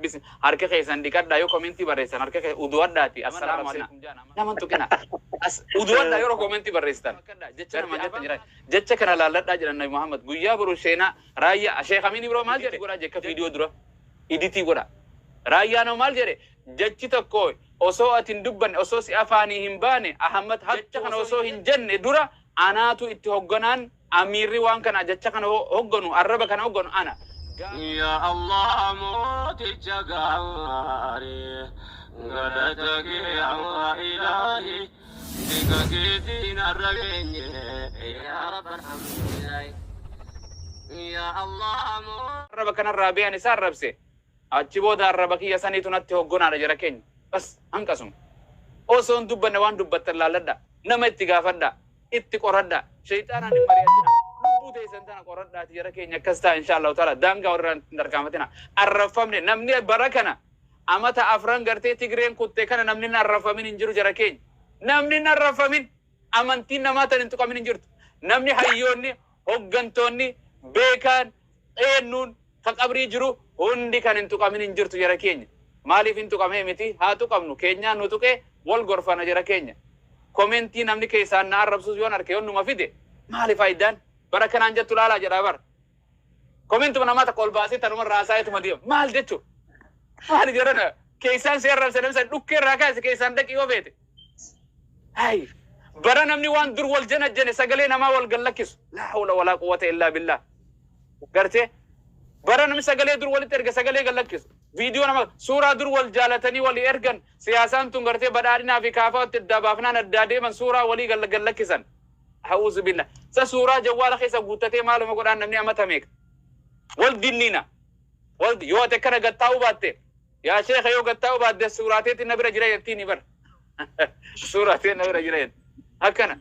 Bism. Harka keessan dhiqadhaa yoo commenti barreessan harka keessan uduwadhaati assalaamu alaikum jaa nama hin tuqina. As uduwadhaa yeroo commenti barreessitan. Jecha nama jette jira. Jecha kana laalladhaa jedhan Nabi Muhammad guyyaa boru seenaa raayyaa Sheekh Amin Ibro maal jedhe godhaa jekka viidiyoo dura iditii godha. Raayyaa nama maal jedhe jechi tokko osoo ati hin dubbanne osoo si afaanii hin baane Ahammad hattu kana osoo hin jenne dura anaatu itti hogganaan Amiirri waan kana jacha kana hogganu, arraba kana hogganu ana. Gaafa. Yaa Allah mooticha gaarii. Galata kee yaa Ilaahi. Bika keetiin arra geenye. Yaa Rabbi alhamdulillaahi. Yaa Allah moo. Arraba kanarraa bee ani isa arrabse. Achi booda arraba kiyya saniitu natti hoggonaadha jara keenya. Bas hanqasuma. Osoo hin dubbanne waan dubbattan laalladhaa. Nama itti gaafadhaa. itti qoradhaa. Sheyxaanaan hin mari'atinaa. Lubbuu teessan tana qoradhaatii jara keenya akkas ta'a inshaa Allahu ta'aalaa daangaa walirraa hin tarkaanfatinaa. Arrabfamne namni bara kana amata afran gartee Tigreen kutte kana namni hin arrabfamin hin jiru jara keenya. Namni hin arrabfamin amantiin namaa tan hin tuqamin hin jirtu. Namni hayyoonni, hoggantoonni, beekaan, Eennuun ka qabrii jiru hundi kan hin tuqamin hin jirtu jara keenya. Maaliif hin tuqamee miti haa tuqamnu keenyaa nu tuqe wal gorfana jara keenya. Komentii namni keessaan na arrabsuus yoon arke yoon numa fide maali faayiddaan bar akka naan jettu laalaa jedhaa bar. Komentuma namaa takka ol baasee tanuma irraa haasaa'eetuma deema. Maal jechu? Maali jarana keessaan si arrabse namni san dhukkee irraa kaase keessaan dhaqi yoo feete. Hay bara namni waan dur wal janajjane sagalee namaa wal gad lakkisu laa hawla walaa quwwata illaa billaah gartee bara namni sagalee dur walitti erge sagalee gad lakkisu viidiyoo nama suuraa dur wal jaalatanii walii ergan siyaasaan tun gartee badhaadhinaa fi kaafaatti addaa baafnaan addaa deeman suuraa walii gad gad lakkisan ha'uuzu billa sa suuraa jawwaala keessa guuttatee maaluma godhaan namni amata meeqa wal dinniina wal yoo ati akkana gad taa'uu baatte Yaa sheeka yoo gad taa'uu baadde suuraa teetti na bira jira jettiini bar. Suuraa tee na bira jira jetti. Akkana.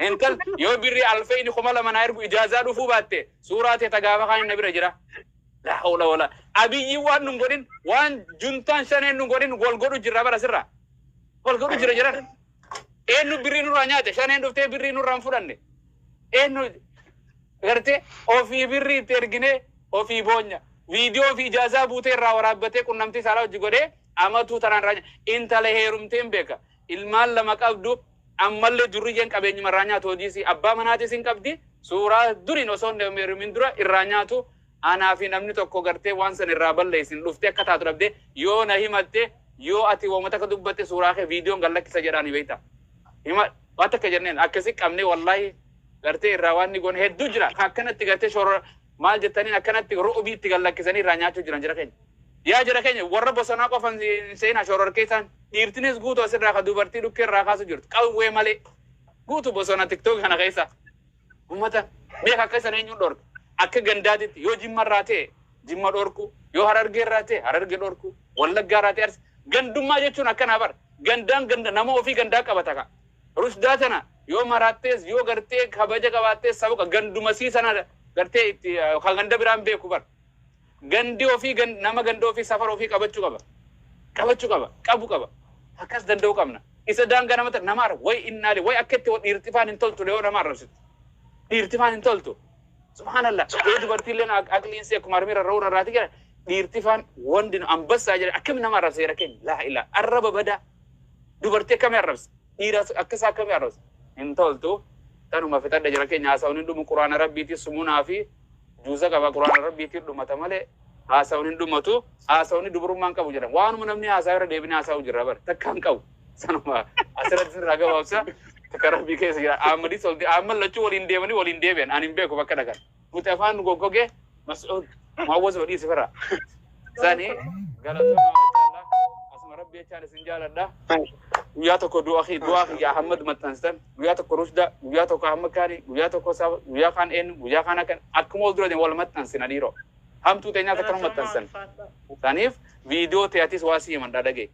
Intal yoo birri alfeeyni kuma lama naa ergu ijaazaa dhufuu baatte suuraa tee ta gaafa kaan na bira jira. Laa hawla wala. Abiyyiin waan nun godhin waan juntaan shaneen nun godhin wal godhu jirra bara sirra. Wal godhu jira jiran. Eenyu birrii nurraa nyaate? Shaneen dhuftee birrii nurraa hin fudhanne. Eenyu gartee ofii birrii itti erginee ofii boonya. Viidiyoo ofii ijaazaa buutee irraa waraabbatee qunnamtii saalaa hojji godhee amatuu tanaan irraa nyaata. Intala heerumteen beeka. Ilmaan lama qabdu ammallee durriyyeen qabeenyuma irraa nyaatu hojii isii. Abbaa manaatis hin qabdi. Suuraa duriin osoo hin heerumin dura irraa nyaatu. Anaa fi namni tokko gartee waan san irraa balleessin dhuftee akka taatu dhabdee yoo na himatte yoo ati woma takka dubbatte suuraa kee viidiyoon gad lakkisa jedhaani beekta. Hima waan takka jenneen akkasi qabnee wallaahi gartee irraa waan ni goone hedduu jira ka akkanatti gartee shorora maal jettaniin akkanatti ru'ubii itti gad lakkisanii irraa nyaachuu jiran jara keenya. Yaa jara keenya warra bosonaa qofa hin seeyinaa shororkeessaan dhiirtinis guutu asirraa ka dubartii dhukkee irraa kaasu jirtu qawwee malee guutu bosona tiktoki kana keessa. Ummata meeqa akka hisan eenyuun dhorke? Akka gandaatitti yoo Jimma irraa ta'e Jimma dhorkuu, yoo Harargee irraa ta'e Hararge dhorkuu, Wallaggaa irraa ta'e Arsii. Gandummaa jechuun akkanaa bar. Gandaan ganda nama ofii gandaa qabata kaa. Rushdaa tana yoo maraattees yoo gartee kabaja qabaattees saba ganduma isii sana gartee itti kan ganda biraa hin beeku bar. Gandi ofii gan nama ganda ofii safara ofii qabachu qaba qabachu qaba qabu qaba akkas danda'u qabna isa daangaa nama ta nama arra way innaali way akka itti wa dhiirtifaan hin toltu le yoo nama arrabsitu dhiirtifaan hin toltu subhaanallah yoo dubartii illeen aq aqliin si akkuma harmee rarra'uu rarraati gara dhiirtifaan wandi nu ambassaa jedhe akkami nama arrabsa jedha keenya laa ilaa arraba badaa dubartii akkami arrabsa dhiira akka isaa akkami arrabsa hin toltu tanuma fixadha jira keenya haasa'uun hin dhumu quraana rabbiitii sumunaa fi Juuza qaba qur'aana rabbiitiin dhumata malee haasawni hin dhumatu haasawni dubrummaa hin qabu jedhama waanuma namni haasawa irra deebinee haasawuu jirra bar takka hin qabu sanuma asirratti irraa gabaabsa takka rabbii keessa jira aammadis ol aamman lachuu waliin deemanii waliin deebi'an ani hin beeku bakka dhaqan nuti afaan nu goggogee mas'uud maawwaz wadhii sifarraa Sani galatoomaa maashaallah. Asuma rabbi jechaan isin jaaladha. Guyyaa tokko du'a kee du'aa kiyya Ahmad maxxansitan. Guyyaa tokko Rushda, guyyaa tokko Ahmad Kaani, guyyaa tokko Saba, guyyaa kaan eenyu, guyyaa kaan akkan akkuma ol dura deemu wal maxxansina dhiiroo. Hamtuu teenyaas akkana maxxansan. Saniif viidiyoo teeyatis waa si himan dhadhagee.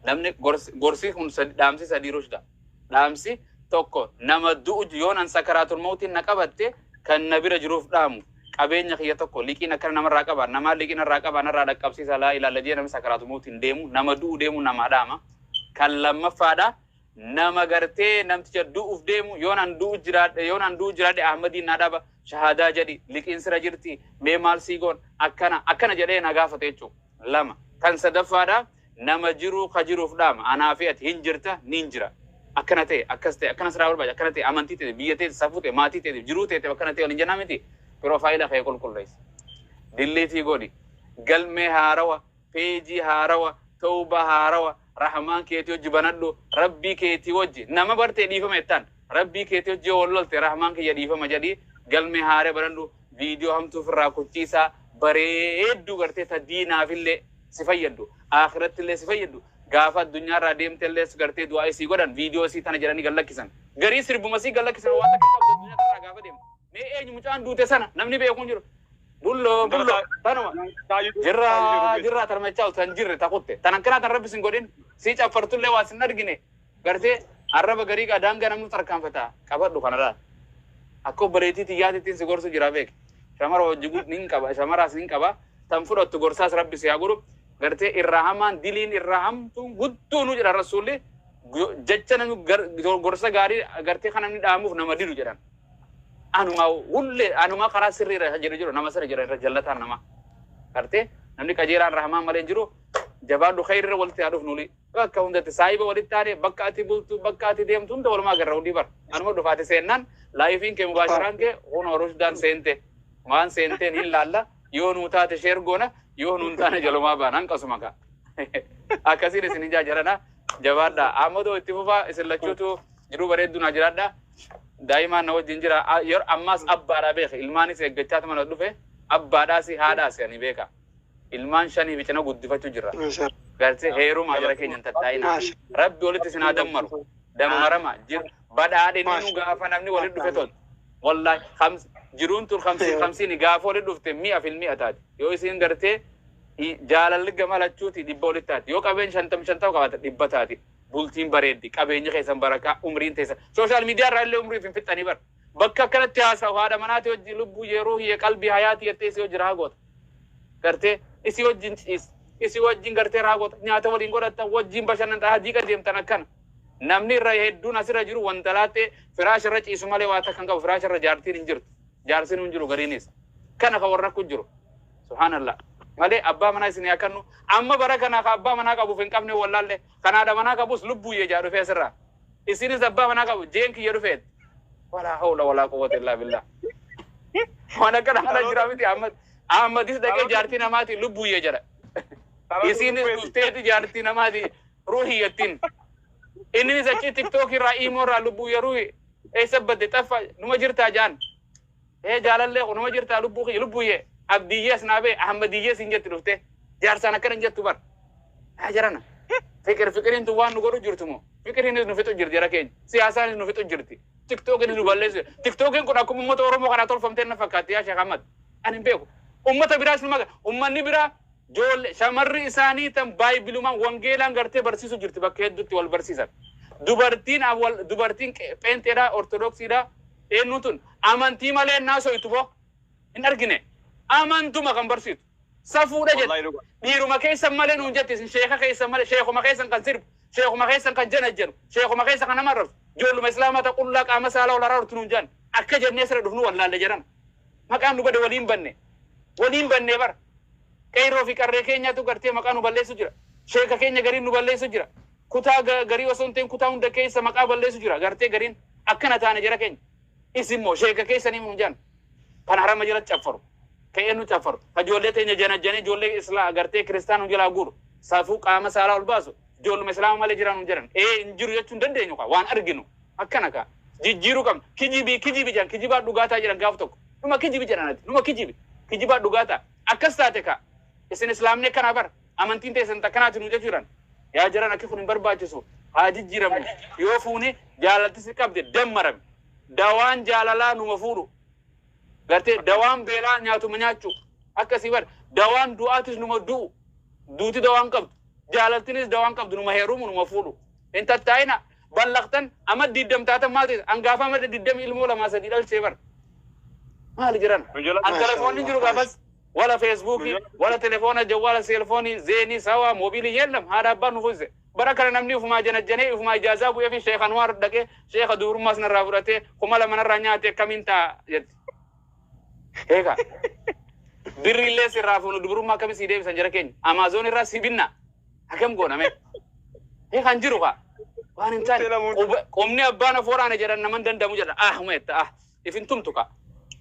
Namni gorsi gorsi kun sad- dhaamsi sadii Rushda. Dhaamsi tokko nama du'u yoon an sakaraatul mawtiin na qabatte kan na bira jiruuf dhaamu qabeenya kiyya tokko liqiin akkana namarraa qabaa namaan liqii narraa qabaa narraa dhaqqabsiisaa laa ilaalla jedhee namni sakaraatul mawtiin deemu nama du'u deemu namaa dhaama kan lammaffaadha nama gartee namticha du'uuf deemu yoon an du'u jiraadhe yoon an du'u jiraadhe ahmadiin naa dhaba shahaadaa jedhi liqiin sira jirti mee maal sii goon akkana akkana jedhee na gaafate jechuudha lama kan sadaffaadha Nama jiruu ka jiruuf dhaama. Anaa fi ati hin jirta, niin jira. Akkana ta'e, akkas ta'e, akkana siraa barbaacha, akkana ta'e, amantii teetiif, biyya teetiif, safuu ta'e, maatii teetiif, jiruu teetiif akkana ta'e waliin jennaa mitii? Piroofaayila kee qulqulleessi. Dilliitii godhi. Galmee haarawa, peejii haarawa, towbaa haarawa, rahmaan keetii wajji banadhu, Rabbii keetii wajji. Nama barte dhiifama jettaan. Rabbii keetii wajji yoo wal lolte rahmaan kiyya dhiifama jedhii galmee haaree banadhu. Viidiyoo hamtuu ofirraa kuchiisaa bareedduu gartee ta diinaafillee. si fayyaddu aakhirattillee si fayyaddu gaafa addunyaarraa deemtellees gartee du'aa isii godhan viidiyoo isii tana jedhanii gad lakkisan garii sirbuma isii gad lakkisan waan takka qabda addunyaa tanarraa gaafa deemtu mee eenyu mucaan duute sana namni beeku hin jiru bulloo bulloo tanuma jirra jirra tarmachaa tan jirre takutte tan akkanaa tan rabbi sin godhin sii caffartullee waa sin argine Gartee? Arraba garii gaa daangaa namuu tarkaanfata. Qabadhu kanaraa. Akka obboleettii tiyyaatittin si gorsu jira beeki. Shamara hojji gud nin qaba shamaraas nin qaba. Tan fudhattu gorsaas rabbi si haa godhu. Gartee irraa hamaan diliin irraa hamtuun guddoonuu jedhan rassuulli jecha namni gorsa gaarii gartee kan namni dhaamuuf nama didu jedhan. Anumaa hullee anumaa karaa sirrii irra jiru jiru nama sirri jira irra jallataan namaa. Gartee namni qajeelaan irraa hamaan malee hin jiru. Jabaadhu khayri irra walitti haa dhufnu. Bakka hundatti saahiba walitti taane bakka ati bultu bakka ati deemtu hunda walumaa agarra hudii bar. Anuma dhufa ati seennaan laayifiin kee mubaasharaan kee kunoo rushdaan seente. Waan seenteen hin laalla yoo nuu taate sheer goona yoo nuun taane jalumaa baana hanqasuma kaa. Akkasiin isin hin jaajarana jabaadha. Amadoo itti fufaa isin lachuutu jiruu bareedduu naa jiraadha. Daa'imaan na wajjin jira. Yeroo ammaas abbaadha beeka. Ilmaanis eeggachaa tuma na dhufe. Abbaadhaasi haadhaasi ani beeka. ilmaan shanii fi cina guddifachu jirra gartee heeruma jara keenya hin tattaa'ina rabbi walitti isin haa dammaru dammarama jir badhaadhinni nu gaafa namni walitti dhufe tol wallahi khams jiruun tun khamsiin khamsiin gaafa walitti dhufte mi'a fil mi'a taati yoo isin gartee i- jaalalli gama lachuuti dhibba walitti taati yoo qabeen shantam shantam qabaata dhibba taati bultiin bareeddi qabeenyi keessan barakaa umriin teessan sooshaal miidiyaa irraa illee umriif hin fixxanii bar bakka akkanatti haasawu haadha manaati hojii lubbuu yeroo hiye qalbii hayaati jettee si hojii raa goota gartee isii wajjin ciista, isii wajjin gartee raagota, nyaata waliin godhatta, wajjin bashannanta, hajii qajeemtan akkana. Namni irra hedduun asirra jiru wanta laaxxee firaasha irra ciisu malee waa takka hin qabu firaasha irra jaartiin hin jirtu jaarsinuu hin jiru gariinis kana kan warra kun jiru subhaanallah malee abbaa manaa isin yaa kannu amma bara kana ka abbaa manaa qabuuf hin qabne wallaalle Kan haadha manaa qabus lubbuuyye jaa dhufee asirraa. Isinis abbaa manaa qabu jeen kiyya dhufeet. Walaa hawla walaa quwwata illaa billah. Waan akkana kana jira miti Ahmad. Ahmadis dhaqee jaartii namaati lubbuuyye jedha. Isinis dhufteeti jaartii namaati ruuhiyyattiin. Inninis achii tiktookii irraa iimoo irraa lubbuuyye ruuhi eessa badde xaffa numa jirtaa jaan. Ee jaalallee ko numa jirtaa lubbuu kiyya lubbuyyee Abdiyyee Asnaabee Ahammadiyyee siin jetti dhuftee jaarsaan akkana hin jettu bar yaa jarana fiqir fiqiriin tun waan nu godhu jirtu moo fiqiriinis nu fixu jirti jara keenya siyaasaanis nu fixu jirti tiktookinis nu balleessu tiktookiin kun akkuma uummata Oromoo kanaa tolfamtee na fakkaatti yaa Sheekh Ahmad ani hin beeku uummata biraas nu maga uummanni biraa Joolle, shamarri isaanii tan Baaybilumaan, wangeelaan gartee barsiisu jirti bakka hedduutti wal barsiisan. Dubartiin am wal dubartiin qe pheenxeedhaa, ortodoksiidhaa, eennuun tun amantii malee hin haasoytu moo? Hin argine. Amantuma kan barsiitu. Safuudha Wallahi jette. dhuga. Dhiiruma keessan malee nuun jette isin sheeka keessan malee sheekuma keessan kan sirbu, sheekuma keessan kan janajjanu, sheekuma keessan kan nama arrabsu, joolluma islaamaa ta qullaa qaama saalaa ol araartu nuun jan. Akka jennee sira dhufnu wallaalle jaran. Maqaan nu bade waliin banne. Waliin bannee bar. Qeyroo fi qarree keenyaatu gartee maqaa nu balleessu jira. Sheeka keenya gariin nu balleessu jira. Kutaa garii osoo hin ta'in kutaa hunda keessa maqaa balleessu jira gartee gariin. Akkana taane jara keenya. Isin moo sheeka keessanii nuun jaan. Kan harama jalatti caffaru. Ka'ee nu caffaru. Ka ijoollee teenya janajjanee ijoollee islaa gartee kiristaana nu jalaa guuru. Safuu qaama saalaa ol baasu. Ijoolluma islaama male jira nun jedhan ee hin jiru jechuu hin dandeenyu kaa waan arginu akkana kaa jijjiiruu qabna kijibii kijibi jedhan kijibaa dhugaa taa jedhan gaaf tokko numa kijibi jedhan ati numa kijibi kijibaa dhugaa taa akkas taate kaa isin islaamni akkanaa bar amantiin teessan takkanaati nu jechuu jedhan yaa jaran akki kun hin barbaachisu haa jijjiiramnu yoo fuune jaalalti si qabde dammarami dawaan jaalalaa numa fuudhu Gartee dawaan beelaa nyaatuma nyaachuu akkasii bar dawaan du'aatis numa du'u duuti dawaan qabdu jaalaltinis dawaan qabdu numa heerumu numa fuudhu hin tattaa'ina ballaqtan amma diddam taatan maati angaafa amma diddami ilmoo lamaa sadii dhalchee bar maali jiran an telefoonni jiru gaafas wala feesbuukii wala telefoona jawwaala seelfoonii zeenii sawaa moobiilii yeellam haadha abbaan nu fuuse Bara kana namni ufumaa janajjanee ufumaa ijaazaa bu'eefi Sheikh Anwaar dhaqee Sheikha dubrummaas narraa fudhatee kuma lama narraa nyaate akkamiin ta'a jetti. Eegaa birrii illee sirraa fuunu dubrummaa akkamiin sii deebisan jara keenya Amaazoon irraa sii binna akkam goona mee. Eegaa hin jiru kaa. Waan hin taane Seelamuun. quba- qubni abbaan of waraane jedhan naman danda'amu jedha ah uma jetta ah. if hin tumtu kaa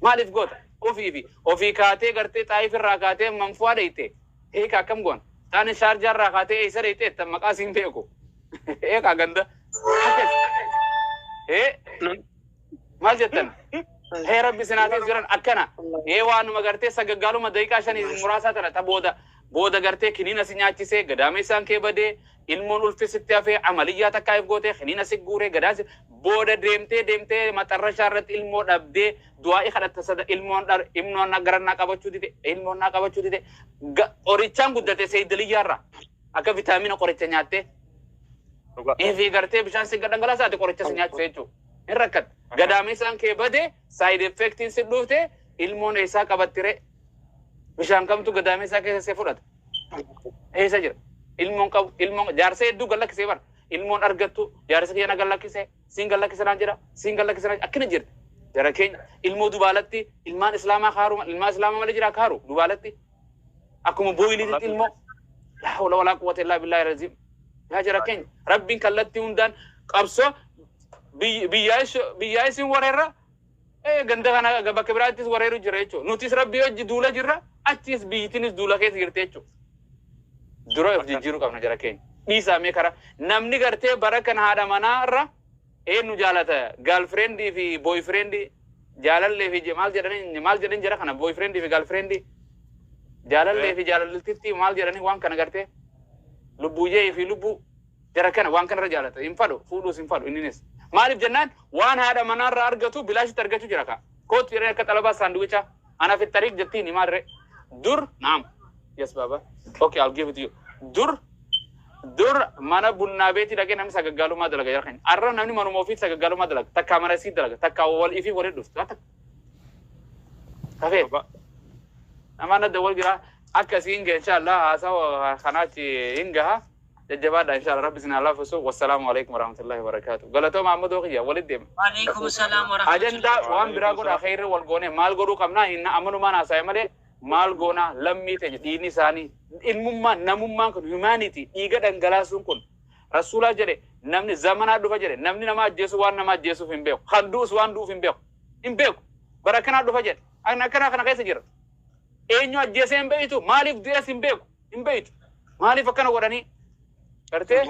maaliif goota ofii fi ofii kaatee gartee xaayif irraa kaatee manfuwaa dheyte heeka akkam goona taane shaarjaa irraa kaatee eeysa dheyte ettan maqaa siin beeku heeka ganda akkas ee maal jettan hee rabbi sinaatiif jiran akkana ee waanuma gartee sagaggaaluma daqiiqaa shanii muraasaa tana ta booda booda gartee kiniina si nyaachisee gadaameessaan kee badee Ilmoon ulfi sitti hafee amaliyyaa takkaayif gootee kiniina si guuree gadaa si booda deemtee deemtee maxarrashaa irratti ilmoo dhabdee du'aa'ii kadhatta sada ilmoon dhar imnoon na garan naa qabachuu dide ilmoon naa qabachuu dide ga qorichaan guddate seeydaliyyaa irraa akka vitaamina qoricha nyaattee Dhugaa. eefii gartee bishaan si gadhangalaasaa ati qoricha si nyaachise jechuudha. Hin rakkatta. Gadaamessaan kee bade saayid effektiin si dhuufte ilmoon eessaa qabattire bishaan kamtu gadaamessaa keessa si fudhata. eessa jira ilmoon qabu ilmoon jaarsa hedduu gad lakkisee bara ilmoon argattu jaarsa kiyya na gad lakkise siin gad lakkise naan jedha siin gad lakkise naan akkana jirti jara keenya ilmoo dubaalatti ilmaan islaamaa kaaruu ilmaa islaamaa malee jira kaaruu dubaalatti akkuma booyiliititti ilmoo laa hawla walaa quwwata illaa billaahi raziim yaa jara keenya rabbiin kallattii hundaan qabsoo biyyaa isin wareerra Ee, ganda kana ga- bakka biraattis wareeru jira jechuudha. Nutis rabbii hojji duula jirra, achiis biyyitiinis duula keessa jirti jechuudha. Dura of Akkas. jijjiiruu qabna jara keenya. Dhiisaa mee karaa namni gartee bara kan haadha manaa irra eenyu jaalata gaalfireendi fi booyfireendi jaalallee fi je- maal jedhanii maal jedhan jara kana booyfireendi fi gaalfireendi jaalallee fi jaalaltitti maal jedhanii waan kana gartee lubbuuyyee fi lubbuu Jara kana waan kanarra jaalata. Hin fadhu. Fuudhuus hin fadhu inninis. Maaliif jennaan waan haadha manaarraa argatu bilaashitti argachuu jira kaa. Koottu jedhanii akka xalabaa saanduwichaa. Ana fi Tariq jettiini maaliree. Dur, naam. Yes baaba. Okay I'll give it to you. Dur dur mana bunnaa beetii dhaqee namni sagaggaalummaa dalaga jara keenya. Arra namni manuma ofiitti sagaggaalummaa dalaga. Takkaa mana isii dalaga. Takkaa wal ifii walitti dhuftu. Waa takka. Kafee. Baba. Namaan adda wal jiraa. Akka isiin gahe inshaallah haasawa kanaachi hin gaha. Jajjabaadhaa inshaalla rabbi isin haa laaffisu wassalaamu aleykum warahmatullahi wabarakaatu galatooma ammadoo kiyya walitti deema. Walekum salam warahmatullahi. Ajandaa waan biraa godhaa kheeyrii wal goonee maal godhuu qabnaa hin amanumaan haasaya malee maal goonaa lammii teenya dhiigni isaanii ilmummaan namummaan kun humanity dhiiga dhangalaasuun kun rasuulaa jedhe namni zamanaa dhufa jedhe namni nama ajjeesu waan nama ajjeesuuf hin beeku kan du'us waan du'uuf hin beeku hin beeku bara akkanaa dhufa jedhe akkanaa kana keessa jira eenyu ajjeesee hin beektu maaliif du'ees hin beeku hin beeytu maaliif akkana godhanii gartee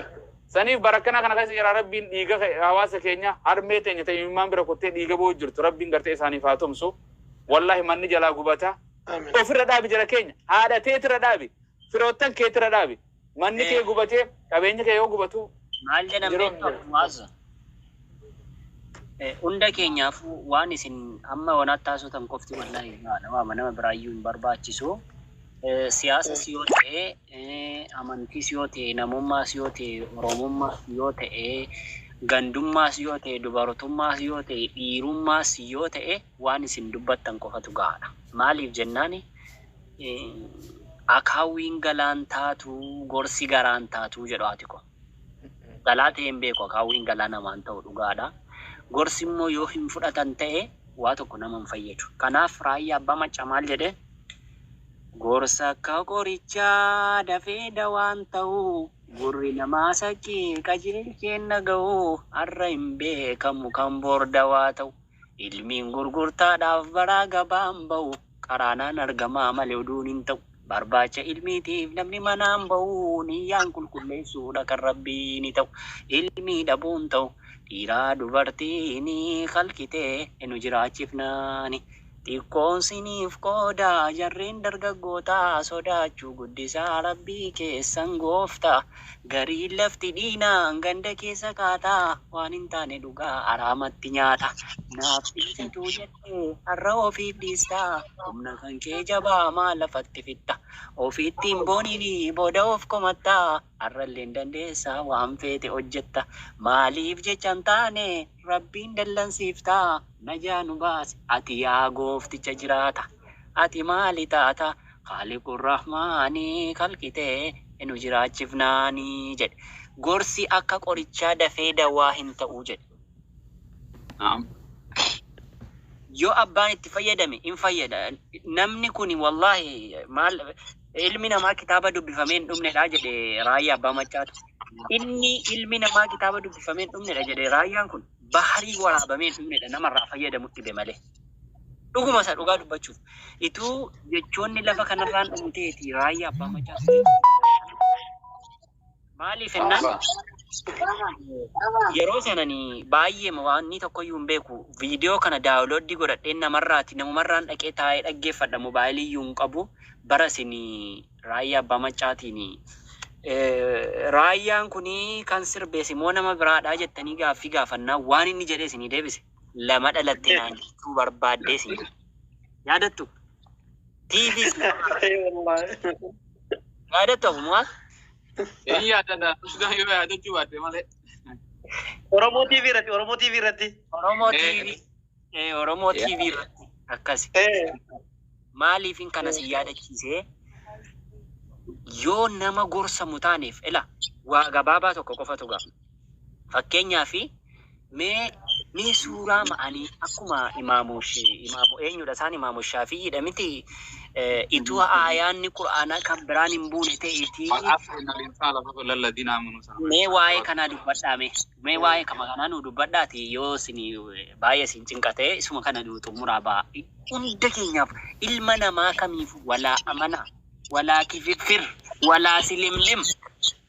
saniif bara akkanaa kana keessa jira rabbiin dhiiga ke- hawaasa keenya harmee teenya ta'e imimmaan bira kuttee dhiiga boo'u jirtu rabbiin gartee isaaniif haa tumsu wallahi manni jalaa gubata Amiin. ofirra dhaabi jara keenya haadha teetirra dhaabi firoottan keetirra dhaabi manni kee gubatee qabeenyi kee yoo gubatu maal jedhan Yeroo- beektu mu'azza Hunda keenyaafuu waan isin amma yonaatti haasotan qofti wallaahi gahaadha. Waama nama biraayyuu hin barbaachisu. Siyaasas yoo ta'e, amantiis yoo ta'e, namummaas yoo ta'e, oromummaas yoo ta'e, gandummaas yoo ta'e, dubartummaas yoo ta'e, dhiirummaas yoo ta'e waan isin dubbattan qofatu gahaadha. Maaliif jennaani akaawwiin galaan taatu gorsi garaan taatu jedhu haati koo. Galaa ta'ee hin beeku akaawwiin galaa namaa hin ta'u dhugaadha. Gorsi immoo yoo hin fudhatan ta'e waa tokko nama hin fayyadu. Kanaaf Raayyaa Abbaa Maccaa maal jedhe? Gorsa akka qorichaa dafee dawaan ta'u. Gurri namaa saqqii qajeelcheen dhaga'u. Har'a hin beekamu kan bor dawaa ta'u. Ilmiin gurgurtaadhaaf baraa gabaan ba'u qaraanaan argamaa malee oduun hin ta'u. Barbaacha ilmiitiif namni manaan ba'u niyyaan qulqulleessuudha kan Rabbiini ta'u. Ilmii dhabuun ta'u dhiiraa dubartiini khalqi ta'e nu jiraachifnaani. Xiqqoon siniif qooda jarreen dargaggootaa sodaachuu guddisaa Rabbii keessan gooftaa. Gariin lafti diina ganda keessa kaata waan hin taane dhuga araamatti nyaata naaf hin tatuu jette har'a ofiif dhiista humna kan kee jabaa maal lafatti fixxa ofitti hin booniin booda of komatta har'allee hin dandeessa waan feete hojjetta maaliif jecha hin taane rabbiin dallansiifta najaa nu baasi ati yaa goofticha jiraata ati maali taata Khaaliqur Rahmaani khalqi ta'e nu jiraachifnaani jedhe. Gorsi akka qorichaa dafee dawaa hin ta'u jedhe. Na'am. Yoo abbaan itti fayyadame hin fayyada. Namni kuni wallaahi maal ilmi namaa kitaaba dubbifamee hin dhumnedha jedhe Raayyaa Abbaa Maccaatu. Inni ilmi namaa kitaaba dubbifamee hin dhumnedha jedhe Raayyaan kun baharii waraabamee hin dhumnedha namarraa fayyadamu dhibe malee. Dhuguma isaa dhugaa dubbachuuf ituu jechoonni lafa kanarraan dhumu ta'eeti raayyaa abbaa macaatu maaliif ennaan yeroo sanani baay'eema waannii tokkoyyuu hin beeku viidiyoo kana daawulooddii godhadheen namarraati namumarraan dhaqee taa'ee dhaggeeffadha mobaayilii iyyuu hin qabu bara isin raayyaa abbaa macaatiini raayyaan kunii kan sirbeesi moo nama biraadhaa jettanii gaaffii gaafannaa waan inni jedhee isinii deebise. lama dhalatte naan jechuu barbaaddee siin jedhe. Yaadattu? Tiifis yaadattu afumaa? Inni yaadata. Usgaan yoo yaadachuu baatte malee. Oromoo TV irratti Oromoo TV irratti. Oromoo Eh. TV. Eh, Oromoo Yeah. TV irratti akkasi. Eh, Maaliifin kana si yaadachiisee yoo nama gorsamu taaneef ila waa gabaabaa tokko qofatu ga'a. Fakkeenyaaf mee mee suuraa ma'anii akkuma imaamu imaamu eenyudha isaan imaamu shaafiyyidha miti ituu aayaanni qur'aanaa kan biraan hin buune ta'eetii mee waa'ee kanaa dubbadhaa mee mee waa'ee kama kanaa nuu dubbadhaati yoo isin baay'ee isin cinqate isuma kana nuu xumuraa ba'a hunda keenyaaf ilma namaa kamiif walaa amanaa walaa kififir walaa silimlim